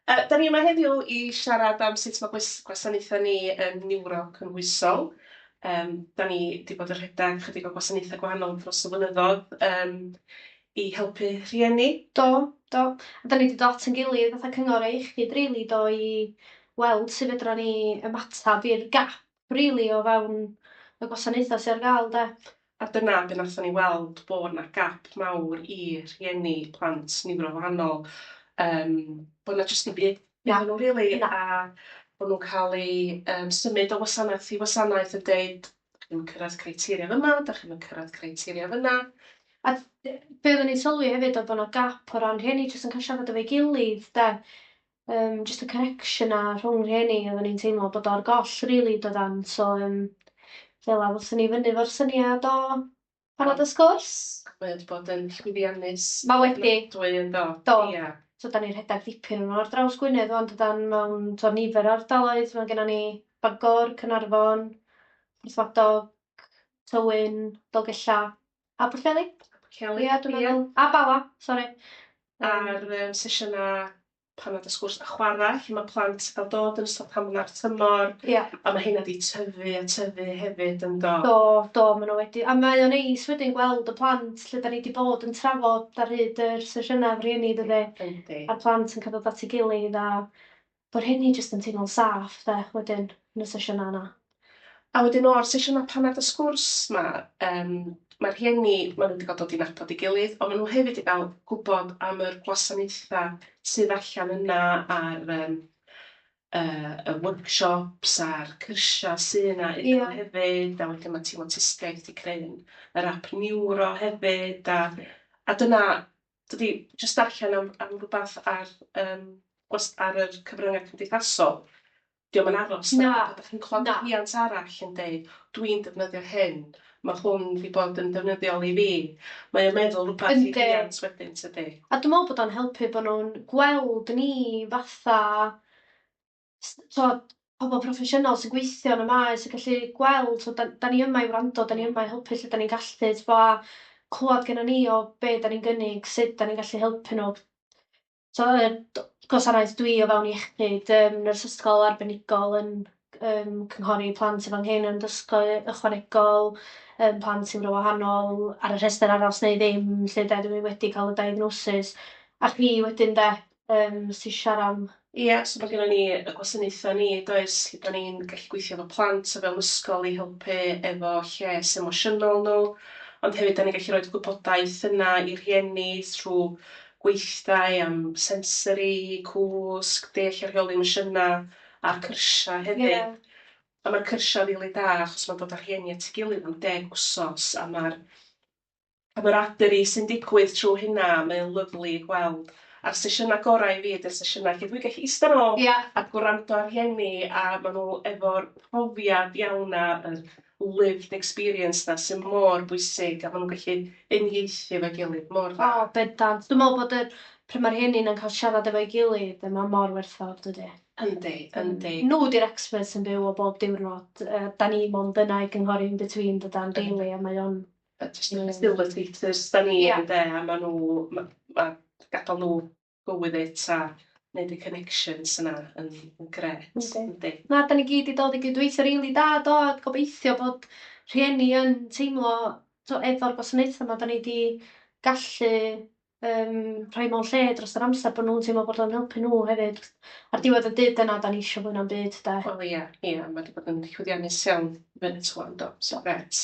Yy, dan ni yma heddiw i siarad am sut mae gwys- gwasanaethau ni yn niwro cynhwysol. Yym, dan ni 'di bod yn rhedeg chydig o gwasanaethau gwahanol dros y blynyddoedd, yym, i helpu rhieni. Do, do. A dan ni 'di dod at ein gilydd fatha cyngor a iechyd rili do, i weld sut fedrwn ni ymateb i'r gap rili o fewn y gwasanaethau sy ar gael 'de. A dyna be wnaethon ni weld, bod 'na gap mawr i rhieni plant niwrowahanol, yym bod 'na jyst dim byd iddyn nhw rili a bod nhw'n cael eu yym symud o wasanaeth i wasanaeth yn deud 'dach chi'm yn cyrraedd criteria fyma, 'dach chi'm yn cyrraedd criteria fyna. A be oedden ni'n sylwi hefyd oedd bod 'na gap o ran rhieni jyst yn cael siarad efo'i gilydd 'de. yym jyst y connection 'na rhwng rhieni oddan ni'n teimlo bod o ar goll rili dydan so yym fel 'a ddothon ni fyny 'fo'r syniad o panad a sgwrs. Mae o 'di bod yn llwyddiannus... Ma' wedi. ...ofnadwy yndo? Do. Ia. So 'dan ni rhedag dipyn o n'w ar draws Gwynedd ŵan dydan mewn t'o' nifer o ardaloedd ma' gennon ni Bangor, Caernarfon, Porthmadog, Tywyn, Dolgella. A Pwllheli? A Pwllheli. Ia, dwi'n meddwl. Ia. A Bala, sori. Ar um, sesiynau pan oedd y sgwrs a chwarae, lle mae plant yn cael dod yn ystod hamla'r tymor, yeah. a mae hynna wedi tyfu a tyfu hefyd yn do. Do, do, maen nhw wedi. A mae o'n eis wedyn gweld y plant lle da ni wedi bod yn trafod ar hyd yr sesiynau rhieni, dydy? Yndi. A'r plant yn cael dod at ei gilydd a Bo rheini jyst yn teimlo'n saff 'de wedyn yn y sesiynau yna. A wedyn o'r sesiynau paned a sgwrs 'ma yym ma'r rhieni ma' nhw 'di ga'l dod i nabod ei gilydd ond ma' nhw hefyd 'di ga'l gwbod am yr gwasanaetha' sydd allan yna a'r yym yy y workshops a'r cyrsia' sy' yna iddyn nhw hefyd a wedyn ma' tîm awtistiaeth 'di creu yr ap niwro hefyd a a dyna Dw i 'di jyst darllen am am rywbeth ar yym gwast- ar yr cyfryngau cymdeithasol. 'Di o'm yn aros 'na. Na. Dach chi'n clywed... Na. ...rhiant arall yn deud, 'dw i'n defnyddio hyn, ma' hwn 'di bod yn ddefnyddiol i fi. Mae o'n meddwl rywbeth... Yndi. ...i rhiant wedyn tydi? A dw i'n meddwl bod o'n helpu bod nhw'n gweld ni fatha tibod, pobl proffesiynol sy'n gweithio yn y maes yn gallu gweld, tibod, da, da ni yma i wrando, da ni yma i helpu lle da ni'n gallu, tibod, a clywed gen ni o be da ni'n gynnig, sut da ni'n gallu helpu nhw. So, y gwasanaeth dwi o fewn iechyd, um, nyrs ysgol arbenigol yn um, cynghori plant efo hyn yn dysgu ychwanegol, um, plant sy'n wahanol ar y rhestr aros neu ddim, lle da dwi wedi cael y diagnosis. A chi wedyn da, um, sy'n siarad am... Ie, yeah, so mae gennym ni y gwasanaethau ni, does, lle da ni'n gallu gweithio efo plant o fewn ysgol i helpu efo lles emosiynol nhw, ond hefyd da ni'n gallu rhoi gwybodaeth yna i rhieni trwy gweithdai am sensori, cwsg, deall a rheoli emosiynau a'r cyrsiau hefyd. Yeah. A mae'r cyrsiau rili really da achos mae'n dod â rhieni at ei gilydd am deg wsos a mae'r Camaraderie sy'n digwydd trwy hynna, mae o'n lyfli i gweld. A'r sesiynau gorau i fi ydy'r sesiynau lle dwi'n gallu ista nôl... Ia. ...a gwrando ar rhieni a maen nhw efo'r profiad iawn 'na, yr lived experience 'na sydd mor bwysig a maen nhw'n gallu uniaethu efo'i gilydd mor dda. O, bendant. Dwi'n meddwl bod yr... pryd mae'r rhieni yna'n cael siarad efo'i gilydd, mae o mor werthfawr, dydi? Yndi, yndi. Nhw 'di'r experts yn byw o bob diwrnod. Yy, dan ni mond yna i gynghori in between dydan, rili, a mae o'n jyst yn facilitators da ni ynde a maen nhw... ma' ma' gadael nhw go with it a wneud y connections yna yn grêt yndi. Na, dan ni gyd wedi dod i gydweithio rili da do, a gobeithio bod rhieni yn teimlo tibod efo'r gwasanaethau yma dan ni wedi gallu um, rhoi mewn lle dros yr amser bod nhw'n teimlo bod o'n helpu nhw hefyd. Ar diwedd y dydd dyna dan ni eisiau fwy na'm byd de. Wel ia, ia, mae wedi bod yn llwyddiannus iawn fy nhw do, so grêt.